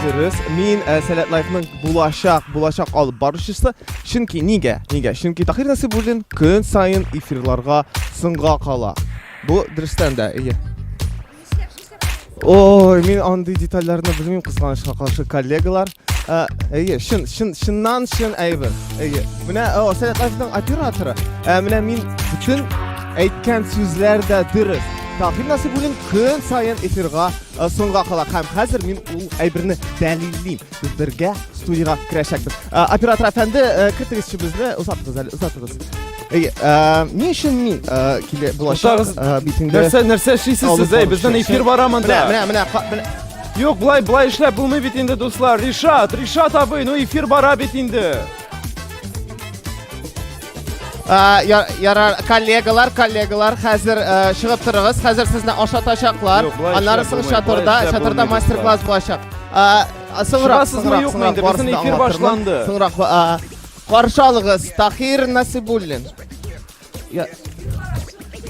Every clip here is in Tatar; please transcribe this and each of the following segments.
Дөрес, мин э, Сәләт Лайфның булачак, булачак алып барышысы. Чөнки нигә? Нигә? Чөнки Тахир Насибуллин көн сайын эфирларга сынга кала. Бу дөрестән дә, әйе. Ой, мин андый детальләрне белмим кызганычка каршы коллегалар. Ә, әйе, шын, шын, шыннан шын әйбер. Әйе. Менә о, Сәләт Азизның операторы. Ә, менә мин бүтән әйткән сүзләр дә дөрес. Тагын нәрсә бүген көн саен эфирга соңга кала. Һәм хәзер мин ул әйберне дәлиллим. Без бергә студиягә керәчәкбез. Э, оператор әфәнде, э, кертегез чебезне, озатыгыз әле, озатыгыз. Әйе, э, ни өчен мин килә булачак битендә? Нәрсә, нәрсә эшлисез сез? Әй, безнең эфир бара монда. Менә, менә, менә. Юк, былай, былай эшләп булмый бит инде, дуслар. Ришат, Ришат абый, ну эфир бара бит инде. Ярар, коллегалар, коллегалар, хәзер чыгып торыгыз. Хәзер сезне ашатачаклар. Аннары соң чатырда, чатырда мастер-класс булачак. Соңрак, соңрак, соңрак, барсын эфир башланды. Соңрак, каршы алыгыз, Тахир Насибуллин.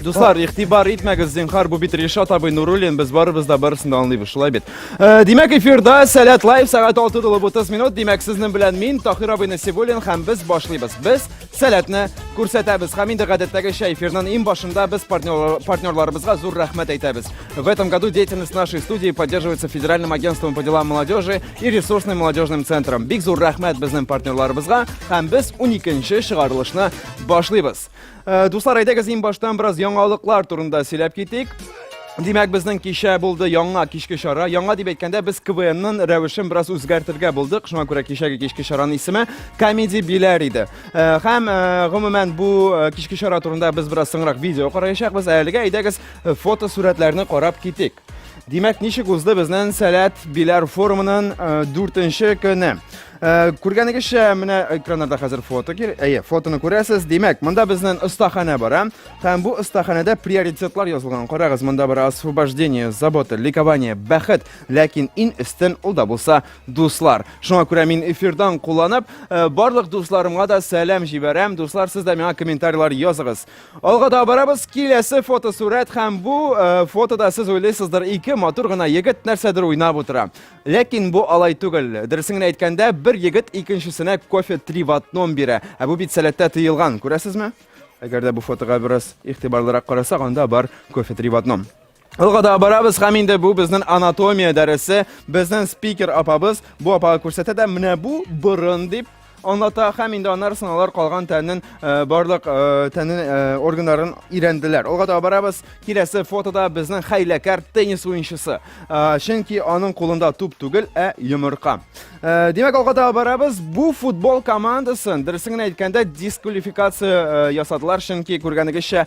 Дуслар, ихтибар итмәгез, зинхар, бу бит Ришат абый Нуруллин, без барыбыз да барысын да аңлыйбыз, шулай бит. Э, димәк, эфирда Сәләт Лайв сәгать 6 тулып 30 минут. Димәк, сезнең белән мин Тахир абый Насибуллин һәм без башлыйбыз. Без Сәләтне күрсәтәбез. Һәм инде гадәттәгечә эфирның иң башында без партнер, партнерларыбызга зур рәхмәт әйтәбез. В этом году деятельность нашей студии поддерживается Федеральным агентством по делам молодежи и ресурсным молодежным центром. Бик зур рәхмәт безнең партнерларыбызга һәм без 12 нче чыгарылышны башлыйбыз. Э, дуслар, әйдәгез иң баштан бераз яңалыклар турында сөйләп китик. Димәк, безнең кичә булды яңа кичке чара. Яңа дип әйткәндә, без КВНның рәвешен бераз үзгәртергә булдык. Шуңа күрә кичәге кичке чараның исеме Комеди Биләр иде. Э, һәм э, гомумән бу э, кичке чара турында без бераз соңрак видео караячакбыз. Ә әлегә әйдәгез фотосурәтләрне карап китик. Димәк, ничек узды безнең Сәләт Биләр форумының э, дүртенче көне? Э, күргәнегезчә, менә экраннарда хәзер фото кир. Әйе, фотоны күрәсез. Димәк, монда безнең остаханә бара. Һәм бу остаханәдә приоритетлар язылган. Карагыз, монда бара освобождение, забота, ликование, бәхет, ләкин ин өстен ул да булса дуслар. Шуңа күрә мин эфирдан кулланып, э, барлык дусларымга да сәлам җибәрәм. Дуслар, сез дә миңа комментарийлар языгыз. Алга да барабыз, киләсе фотосурәт һәм бу э, фотода сез уйлыйсыздыр, ике матур гына егет нәрсәдер уйнап утыра. Ләкин бу алай түгел. Дөресен генә әйткәндә, бер егет икенчесенә кофе три в одном бирә. Ә бу бит сәләттә тыелган, күрәсезме? Әгәр дә бу фотога бераз игътибарлырак карасак, анда бар кофе три в одном. Алга да барабыз һәм инде бу безнең анатомия дәресе. Безнең спикер апабыз бу апага күрсәтә дә менә бу борын дип аңлата һәм инде аннары сыналар калган тәннең э, барлык э, тәннең э, органнарын өйрәнделәр. Алга да барабыз. Киләсе фотода безнең хәйләкәр теннис уенчысы. Чөнки аның кулында туп түгел, ә йомырка. Димәк, алга да барабыз. Бу футбол командасын, дөресен генә әйткәндә, дисквалификация ясадылар, чөнки күргәнегезчә,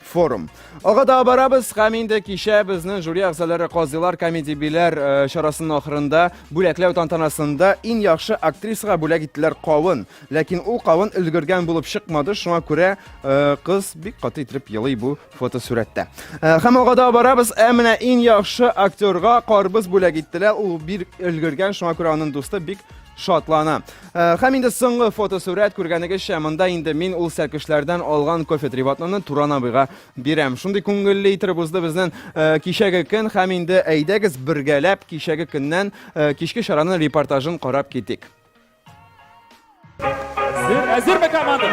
форум. Ага да барабыз һәм инде кичә безнең жюри әгъзалары казыйлар комедибиләр э, чарасының ахырында бүләкләү тантанасында иң яхшы актрисага бүләк иттеләр кавын. Ләкин ул кавын өлгергән булып чыкмады, шуңа күрә э, кыз бик каты итеп елый бу фотосурәттә. Э, һәм ага да барабыз, ә менә иң яхшы актерга карбыз бүләк иттеләр. Ул бир өлгергән, шуңа күрә аның дусты бик шатлана. Э, һәм инде соңгы фотосурәт күргәнегезчә, монда инде мин ул сәркешләрдән алган кофе трибатнаны Туран абыйга бирәм. Шундый күңелле итеп узды безнең э, кичәге көн һәм инде әйдәгез бергәләп кичәге көннән э, кичке чараның репортажын карап китик. Әзерме команда?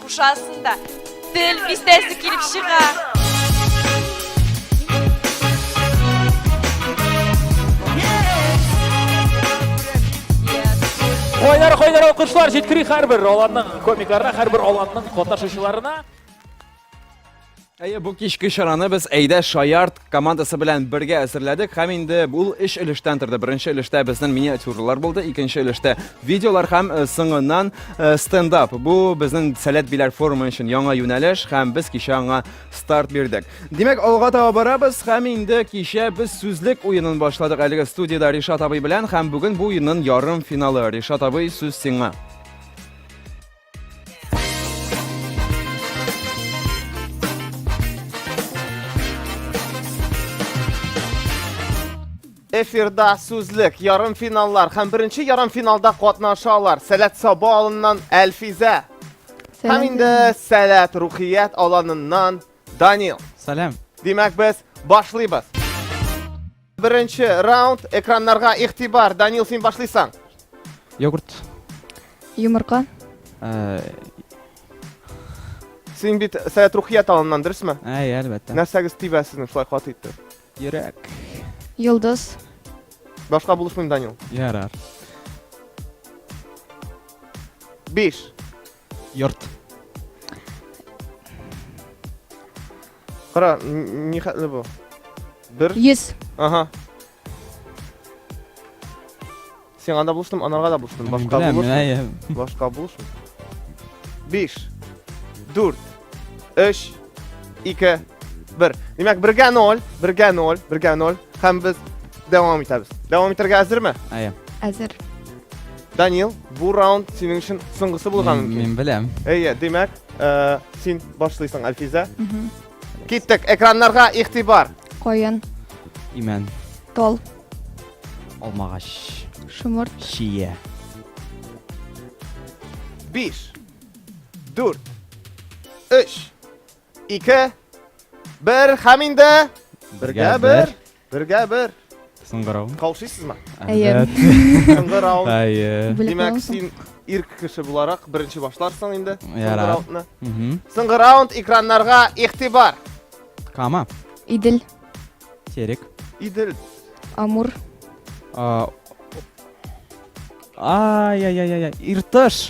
Кушасын да. Тел бистәсе килеп чыга. Кайнар кайнар алкышлар җиткери һәрбер аланның комикларына, һәрбер аланның катнашучыларына. Әйе, бу кичке чараны без Әйдә Шаярт командасы белән бергә әзерләдек һәм инде ул эш өлештән торды. Беренче өлештә безнең миниатюралар булды, икенче өлештә видеолар һәм э, соңыннан э, стендап. Бу безнең Сәләт Биләр форумы өчен яңа юнәлеш һәм без кичә аңа старт бирдек. Димәк, алга таба барабыз һәм инде кичә без сүзлек уенын башладык әлеге студияда Ришат абый белән һәм бүген бу уенның ярым финалы. Ришат абый, сүз сиңа. Эфирда сүзлек, ярым финаллар һәм беренче ярым финалда катнаша алар. Сәләт Саба алыннан Әлфизә. Һәм инде Сәләт Рухият аланыннан Данил. Сәлам. Димәк без башлыйбыз. Беренче раунд экраннарга игътибар. Данил, син башлыйсың. Йогурт. Йомырка. Э, Син бит Сәләт Рухия талыннан, дөресме? Әй, әлбәттә. Нәрсәгез тибә сезнең шулай каты итте? Йөрәк. Йолдыз. Башка булышмыйм, Данил. Ярар. Биш. Йорт. Кара, н- ни хәтле бу? Бер. Йөз. Ага. Сиңа да булыштым, анарга да булыштым. Мин Башка беләм, булышмый. менә ем. Башка булышмый. Биш. Дүрт. Өч. Ике. Бер. Димәк, бергә ноль. Бергә ноль. Бергә ноль. Һәм без дәвам итәбез. Дәвам итәргә әзерме? Әйе. Әзер. Данил, бу раунд синең өчен соңгысы булган Мин мөмкин. мин беләм. Әйе, димәк, Э, син башлыйсың, Әлфизә. Киттек, экраннарга игътибар. Каен. Имән. Тол. Алмагач. Шомырт. Шия. Биш. Дүрт. Өч. Ике. Бер. Һәм инде. Бергә бер. Бергә бер. Сыңгырау. Каушыйсызмы? Әйе. Соңгы раунд. Әйе. Димәк, син ир кеше буларак беренче башларсың инде. Соңгы раундны. Соңгы раунд экраннарга игътибар. Кама. Идел. Терек. Идел. Амур. Ай-яй-яй-яй. Иртыш.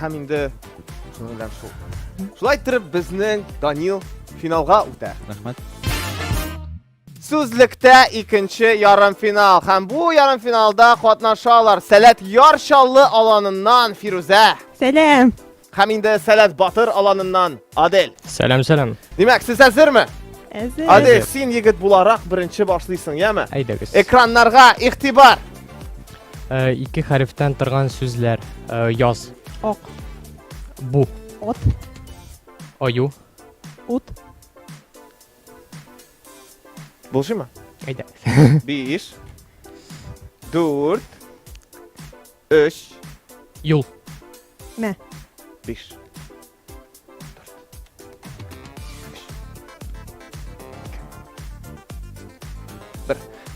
Һәм инде шуның белән шул. Шулай иттереп безнең Данил финалга үтә. Рәхмәт. Сүзлектә икенче ярымфинал. Һәм бу ярымфиналда катнашалар Сәләт Яр Чаллы аланыннан Фирүзә. Сәлам. Һәм инде Сәләт Батыр аланыннан Адель. Сәлам, сәлам. Димәк, сез әзерме? Әзер. Адель, син егет буларак беренче башлыйсың, яме? Әйдәгез. Экраннарга игътибар. Э, ике хәрефтән торган сүзләр. Э, яз. Ак. Бу. От. Аю. Ут. Булшыма? Әйдә. Биш. Дүрт. Өч. Юл. Мә. Биш.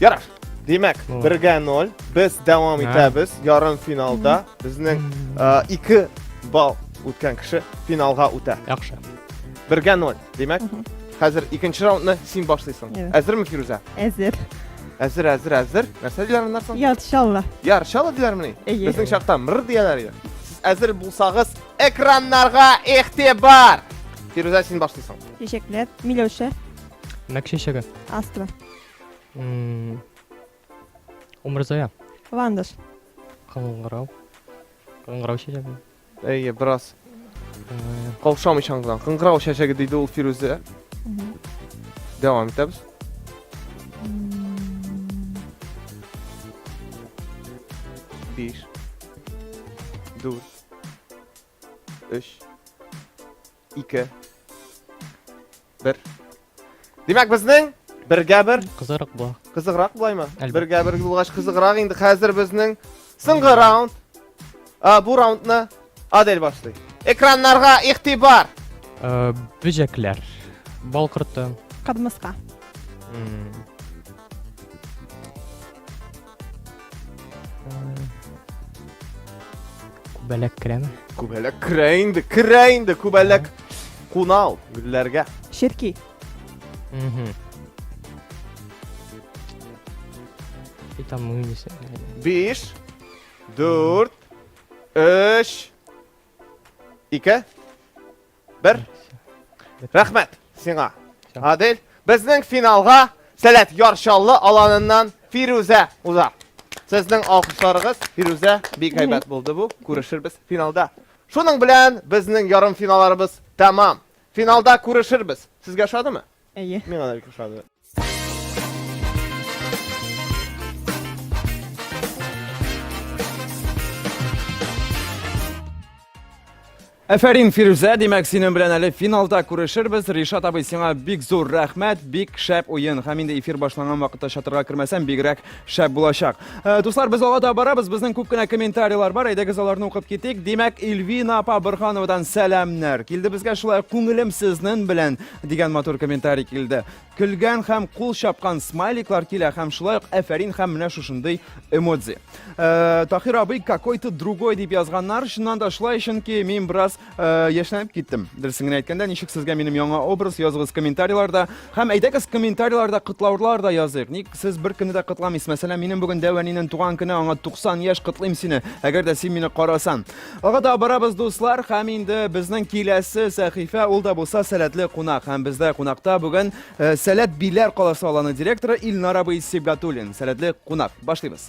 Ярар. Димәк, 1-гә 0. Без дәвам итәбез. Ярым финалда безнең 2 балл үткән кеше финалга үтә. Яхшы. 1-гә 0. Димәк, хәзер икенче раундны син башлыйсың. Әзерме, Фирүзә? Әзер. Әзер, әзер, әзер. Нәрсә диләр моннан соң? Ярчалла. Ярчалла диләрмени? Безнең чакта мыр дияләр иде. Сез әзер булсагыз, Экраннарга игътибар! Фирүзә, син башлыйсың. Чәчәкләр. Миләүшә. Мәк чәчәге. Астра. М, Умырзая. Ландыш. Кыңгырау. Кыңгырау чәчәге. Әйе, бераз Э, каушамыйчан гына. Кыңгырау чәчәге диде ул Фирүзә. Мгм. Дәвам итәбез. М, 5 4 3 2 1 Димәк, безнең бергә бер кызыграк бу. Кызыграк булаймы? Бергә бер булгач кызыграк инде. Хәзер безнең соңгы раунд. А, бу раундны Адель башлый. Экраннарга игътибар. Э, бөҗәкләр. Бал корты. Кадмыска. Күбәләк керәме? Күбәләк керә инде, керә инде күбәләк. Куна ул гөлләргә. Ширки. Мгм. И там мы не сэ- Биш, дүрт, өч, ике. Бер. Рәхмәт сиңа. Адель, безнең финалга Сәләт Ярчаллы аланыннан Фирүзә уза. Сезнең алкышларыгыз Фирүзә бик әйбәт булды бу. Күрешербез финалда. Шуның белән безнең ярым финалларыбыз тәмам. Финалда күрешербез. Сезгә ошадымы? Әйе. Миңа да бик ошады. Әфәрин Фирүзә, димәк, синең белән әле финалда күрешербез. Ришат абый, сиңа бик зур рәхмәт, бик шәп уен. Һәм инде эфир башланган вакытта чатырга кермәсәм, бигрәк шәп булачак. Э, дуслар, без алга да барабыз. Безнең күп кенә комментарийлар бар. Әйдәгез аларны укып китик. Димәк, Ильвина апа Борхановадан сәламнәр. Килде безгә шулай күңелем сезнең белән. дигән матур комментарий килде. Көлгән һәм кул чапкан смайликлар килә һәм шулай ук әфәрин һәм менә шушындый эмодзи. Э, Тахир абый какой-то другой дип язганнар. Чыннан да шулай, чөнки мин бераз э, яшьләнеп киттем. Дөресен генә әйткәндә, ничек сезгә минем яңа образ языгыз комментарийларда һәм әйдәгез комментарийларда котлаулар да языйк. Ник сез бер көнне дә котламыйсыз? Мәсәлән, минем бүген Дәвәнинең туган көне, аңа 90 яшь котлыйм сине. Әгәр дә син мине карасан. Ага да барабыз дуслар, хәм инде безнең киләсе сәхифә ул да булса сәләтле кунак. Хәм бездә кунакта бүген э, Сәләт Биләр каласы аланы директоры Илнар абый Сибгатуллин. Сәләтле кунак. Башлыйбыз.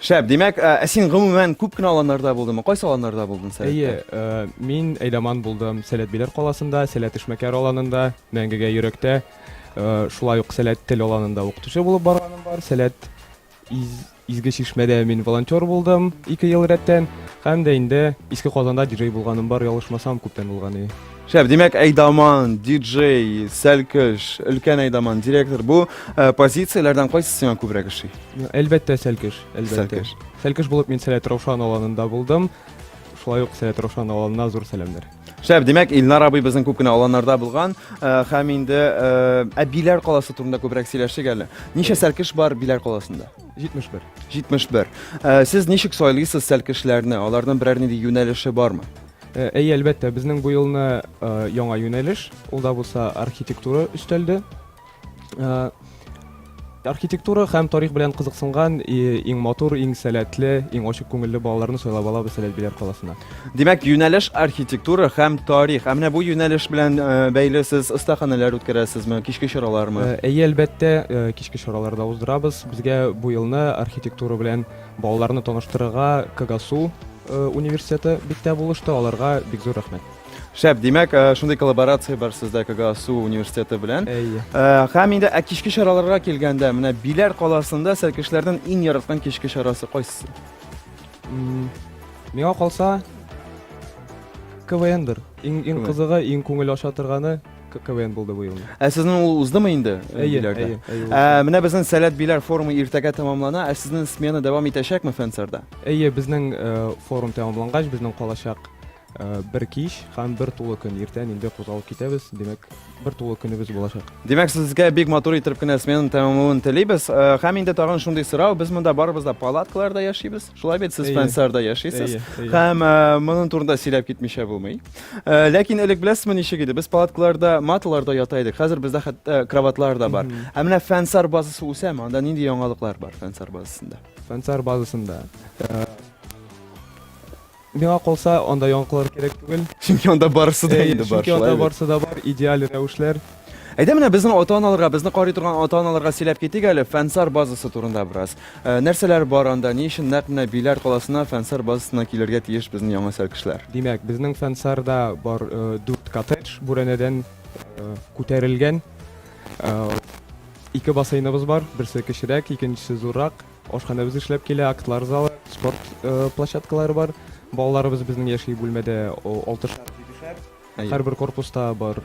Шәп, димәк, ә ә син гомумән күп кенә аланнарда булдыңмы? Кайсы аланнарда булдың сәләттә? Әйе, э, мин Әйдаман булдым. Сәләт Биләр каласында, Сәләт Эшмәкәр аланында, Мәңгегә йөрәктә. Э, Шулай ук Сәләт тел аланында укытучы булып барганым бар. Сәләт Из- Изге Чишмәдә мин волонтер булдым ике ел рәттән. Һәм дә инде Иске Казанда диджей булганым бар, ялгышмасам, күптән булган иде. Шәп, димәк, Әйдаман, диджей, Сәлкеш, өлкән Әйдаман, директор, бу э, позицияләрдән кайсы сиңа күбрәк эшли? Әлбәттә, Сәлкеш, әлбәттә. Сәлкеш. Сәлкеш булып мин Сәләт Раушан аланында булдым. Шулай ук Сәләт Раушан аланына зур сәламнәр. Шәп, димәк, Илнар абый безнең күп кенә аланнарда булган, э, һәм инде э, ә Биләр каласы турында күбрәк сөйләшик әле. Ничә Сәлкеш бар Биләр каласында? 71. 71. Э, сез ничек сайлыйсыз Сәлкешләрне? Аларның берәр нинди юнәлеше бармы? Э, әйе, әлбәттә, безнең бу елны э, яңа юнәлеш, ул да булса архитектура өстәлде. Э, архитектура һәм тарих белән кызыксынган иң матур, иң сәләтле, иң ачык күңелле балаларны сайлап алабыз Сәләт Биләр каласына. Димәк, юнәлеш архитектура һәм тарих. Ә менә бу юнәлеш белән бәйле сез остаханәләр үткәрәсезме, кичке чаралармы? Әйе, әлбәттә, кичке чаралар да уздырабыз. Безгә бу елны архитектура белән Балаларны таныштырырга Кагасу э, университеты биктә булышты, аларга бик зур рәхмәт. Шәп, димәк, э, шундый коллаборация бар сездә Кагасу университеты белән. Әйе. Э, һәм инде ә кичке чараларга килгәндә, менә Биләр каласында сәркешләрнең иң яраткан кичке чарасы кайсы? Миңа калса КВНдыр. Иң иң кызыгы, иң күңел ача торганы КВН булды бу елны. Ә сезнең ул уздымы инде? Э, әйе, әйе, әйе. Ә, менә безнең Сәләт Биләр форумы иртәгә тәмамлана, ә сезнең смена дәвам итәчәкме Фенсерда? Әйе, безнең э, форум тәмамлангач, безнең калачак э, бер кич һәм бер тулы көн иртән инде кузгалып китәбез. Димәк, бер тулы көнебез булачак. Димәк, сезгә бик матур итеп кенә сменаны тәмамлавын телибез. Һәм инде тагын шундый сорау, без монда барыбыз да палаткаларда яшибез. Шулай бит сез Фансарда яшисез. Һәм моның турында сөйләп китмичә булмый. Ләкин элек беләсезме ничек иде? Без палаткаларда, маталарда ята идек. Хәзер бездә хәтта кроватлар да бар. Ә менә Фансар базасы үсәме? Анда нинди яңалыклар бар Фансар базасында? Фансар базасында Миңа калса, анда яңкылар кирәк түгел. Чөнки анда барысы да инде бар. Чөнки анда барысы да бар, идеаль рәвешләр. Әйдә менә безнең ата-аналарга, безне карый торган ата-аналарга сөйләп китик әле Фәнсар базасы турында бераз. Э, нәрсәләр бар анда? Ни өчен нәкъ менә Биләр каласына Фәнсар базасына килергә тиеш безнең яңа сәл кешеләр? Димәк, безнең Фәнсарда бар 4 э, коттедж бүрәнәдән э, күтәрелгән. Ике бассейныбыз бар, берсе кечерәк, икенчесе зуррак. Ашханәбез эшләп килә, актлар залы, спорт площадкалары бар. Балаларыбыз безнең яши бүлмәдә алтышар, җидешәр. Һәрбер корпуста бар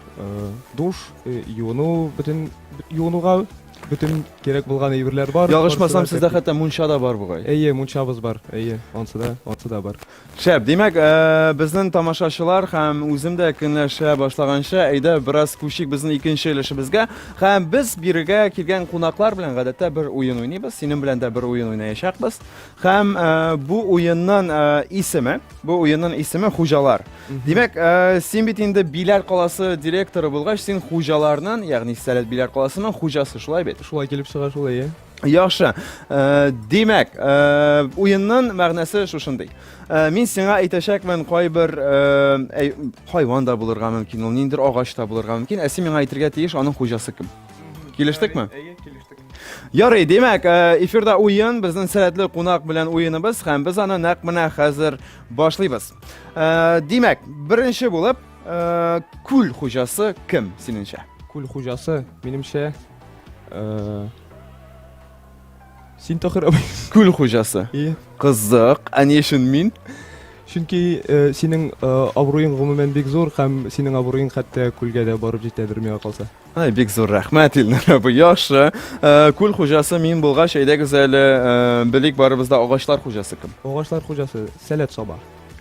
душ, юыну, бөтен юынуга бөтен кирәк булган әйберләр бар. Ягышмасам, сездә хәтта мунча да бар бугай. Әйе, мунчабыз бар. Әйе, ансы да, ансы да бар. Шәп! Димәк, безнен тамашачылар һәм үзем дә көнләшә башлаганчы, әйдә бераз күчик безнен икенче өлешебезгә. Һәм без бирегә килгән кунаклар белән гадәттә бер уен уйныйбыз. Синең белән дә бер уен уйнаячакбыз. Һәм бу уеннын исеме, бу уеннын исеме Хуҗалар. Димәк, син бит инде Биләр каласы директоры булгач, син хуҗаларнын, ягъни Сәләт Биләр каласынын хуҗасы, шулай бит? Шулай килеп чыга шул, әйе. Яхшы. Э, димәк, э, уенның мәгънәсе шушындый. Э, мин сиңа әйтәчәкмен, кайбер хайван да булырга мөмкин, ул ниндер агач та булырга мөмкин. Ә син миңа әйтергә тиеш, аның хуҗасы кем? Килештекме? Әйе, килештек. Ярый, димәк, эфирда уен, безнең сәләтле кунак белән уеныбыз һәм без аны нәкъ менә хәзер башлыйбыз. Димәк, беренче булып, күл хуҗасы кем синеңчә? Күл хуҗасы, минемчә, Э, син тахыр абый күл хуҗасы иә кызык ә ни өчен мин чөнки э, синең э, абруең гомумән бик зур һәм синең абруең хәтта күлгә дә барып җитәдер миңа калса ай бик зур рәхмәт илнар абый яхшы э, күл хуҗасы мин булгач әйдәгез әле э, белик барыбыз да агачлар хуҗасы кем агачлар хуҗасы сәләт саба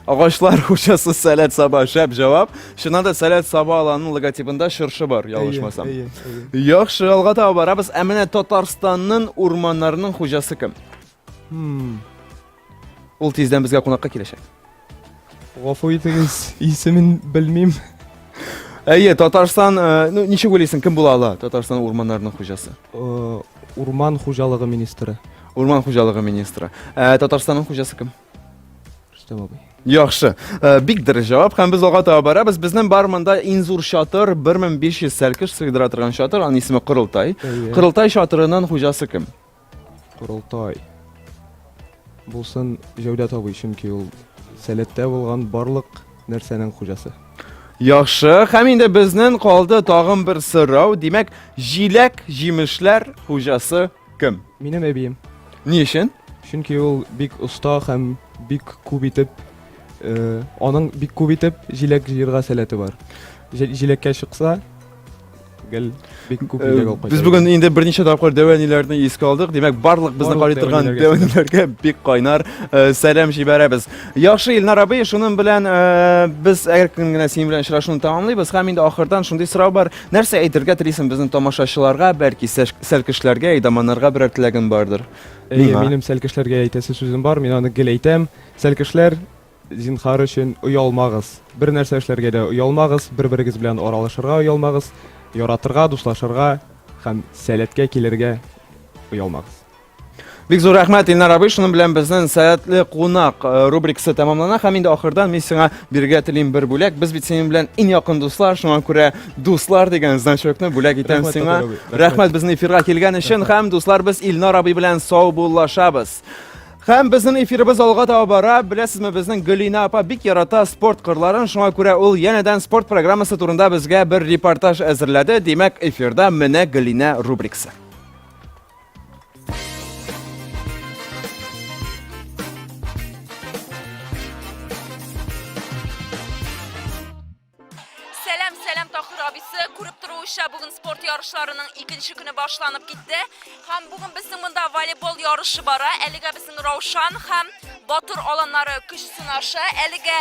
Агачлар хуҗасы Сәләт Саба шәп җавап. Чыннан да Сәләт Саба аланының логотипында чыршы бар, ялгышмасам. Әйе, әйе, әйе. Яхшы, алга таба барабыз. Ә менә Татарстанның урманнарының хуҗасы кем? Хм. Ул тиздән безгә кунакка киләчәк. Гафу итегез, исемен белмим. Әйе, Татарстан, э, ну ничек уйлыйсың, кем була ала Татарстан урманнарының хуҗасы? Э, Урман хуҗалыгы министры. Урман хуҗалыгы министры. Ә Татарстанның хуҗасы кем? Рөстәм абый. Яхшы. Э, бик дөрес җавап һәм без алга таба барабыз. Безнең бар монда иң зур чатыр 1500 сәлкеш сыйдыра торган чатыр, аның исеме Кырылтай. Кырылтай чатырының хуҗасы кем? Кырылтай. Булсын Җәүдәт абый, чөнки ул сәләттә булган барлык нәрсәнең хуҗасы. Яхшы, һәм инде безнең калды тагын бер сорау. Димәк, җиләк, җимешләр хуҗасы Кем? Минем әбием. Ни өчен? Чөнки ул бик оста һәм бик күп итеп э, аның бик күп итеп җиләк җыярга сәләте бар. Җи- Җиләккә чыкса, гел бик күп Э, җиләк алып кайта. Без бүген инде берничә тапкыр дәвәниләрне искә алдык. Димәк, барлык безне Барлык карый торган дәвәниләргә дәвәниләргә бик кайнар э, сәлам җибәрәбез. Яхшы, Илнар абый, шуның белән э, без әгәр көн генә синең белән очрашуны тәмамлыйбыз. Һәм инде ахырдан шундый сорау бар. Нәрсә әйтергә телисең безнең тамашачыларга, бәлки сәлкешләргә, идаманнарга берәр теләгең бардыр? Әйе, минем сәлкешләргә әйтәсе сүзем бар, мин аны гел әйтәм. Сәлкешләр, зинхар өчен, оялмагыз. Бер нәрсә эшләргә дә оялмагыз, бер-берегез белән аралашырга оялмагыз, яратырга, дуслашырга һәм сәләткә килергә оялмагыз. Бик зур рәхмәт Илнар абый, шуның белән безнең сәятле кунак э, рубрикасы тәмамлана һәм инде ахырда мин сиңа бирергә телим бер бүләк. Без бит синең белән иң якын дуслар, шуңа күрә дуслар дигән значокны бүләк итәм рәхмәт, сиңа. Рәхмәт безнең эфирга килгән өчен һәм дуслар без Илнар абый белән саубуллашабыз. Һәм безнең эфирыбыз алга таба бара. Беләсезме, безнең Гөлина апа бик ярата спорт кырларын, шуңа күрә ул янәдән спорт программасы турында безгә бер репортаж әзерләде. Димәк, эфирда менә Гөлина рубрикасы. буенча бүген спорт ярышларының икенче көне башланып китте. Һәм бүген безнең монда волейбол ярышы бара. Әлегә безнең Раушан һәм Батыр аланнары көч сынаша. Әлегә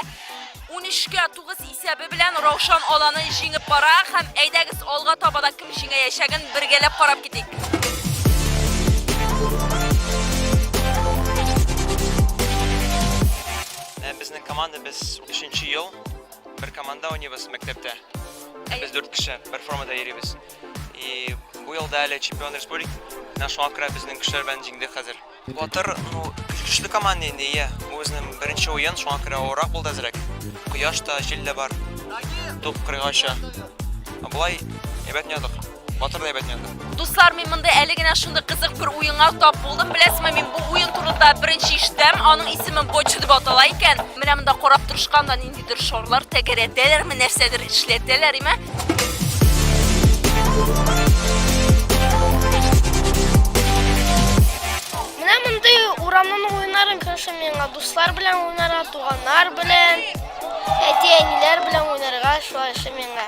13-кә 9 исәбе белән Раушан аланы җиңеп бара һәм әйдәгез алга таба да кем җиңәячәген бергәләп карап китик. Ә безнең команда без 3-нче ел бер команда уйныйбыз мәктәптә. Без 4 кеше бер формада йөрибез. И бу елда әле чемпион республик. Менә шуңа күрә безнең кешеләр белән җиңдек хәзер. Батыр, ну, көчле команда инде, иә. Бу безнең беренче уен, шуңа күрә авыррак булды әзрәк. Кояш та, җил дә бар. Туп кырыйга оча. Ә Болай әйбәт уйнадык. Батыр да әйбәт уйнады. Дуслар, мин монда әле генә шундый кызык бер уенга тап булдым. Беләсезме, мин бу уен турында беренче ишетәм. Аның исеме бочу дип атала икән. Менә монда карап торышканда нинди күптер шарлар тәгәрәтәләрме, нәрсәдер эшләтәләр име? Менә мондый урамның уеннарын күршем миңа дуслар белән уйнарга, туганнар белән, әти-әниләр белән уйнарга шулай эшләм миңа.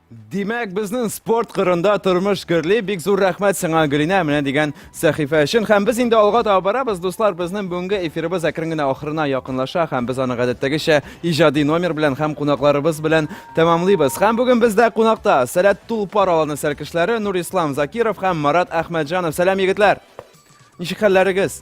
Димәк, безнең спорт кырында тормыш гөрли. Бик зур рәхмәт сиңа, Гөлинә, менә дигән сәхифә өчен. Һәм без инде алга таба барабыз, дуслар. Безнең бүгенге эфирыбыз әкрен генә ахырына якынлаша һәм без аны гадәттәгечә иҗади номер белән һәм кунакларыбыз белән тәмамлыйбыз. Һәм бүген бездә кунакта Сәләт Тулпар аланы сәркешләре Нурислам Закиров һәм Марат Әхмәтҗанов. Сәлам, егетләр! Ничек хәлләрегез?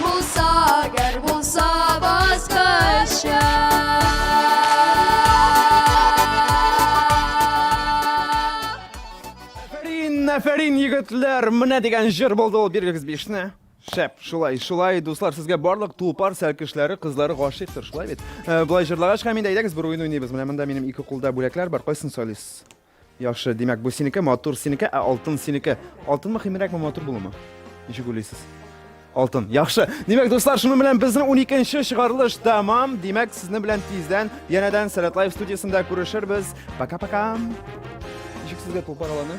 Булса, гәр булса баскача. Афәрин, афәрин, егетләр! Менә дигән җыр булды ул, бирегез бишне. Шәп, шулай, шулай, дуслар, сезгә барлык тупар сәлкешләре, кызлары гашыйктыр, шулай бит. Э, Болай җырлагач, һәм инде әйдәгез бер уен уйныйбыз. Менә монда минем ике кулда бүләкләр бар, кайсын сайлыйсыз? Яхшы, димәк, бу синеке, матур синеке, ә алтын синеке. Алтын мөһимрәкме, матур булума? Ничек уйлыйсыз? Алтын. Яхшы. Димәк, дуслар, шуның белән безнең 12-нче чыгарылыш тәмам. Димәк, сезнең белән тиздән янәдән Сәләт Лайф студиясендә күрешербез. Пока-пока. Ничек сезгә тулпар аланы?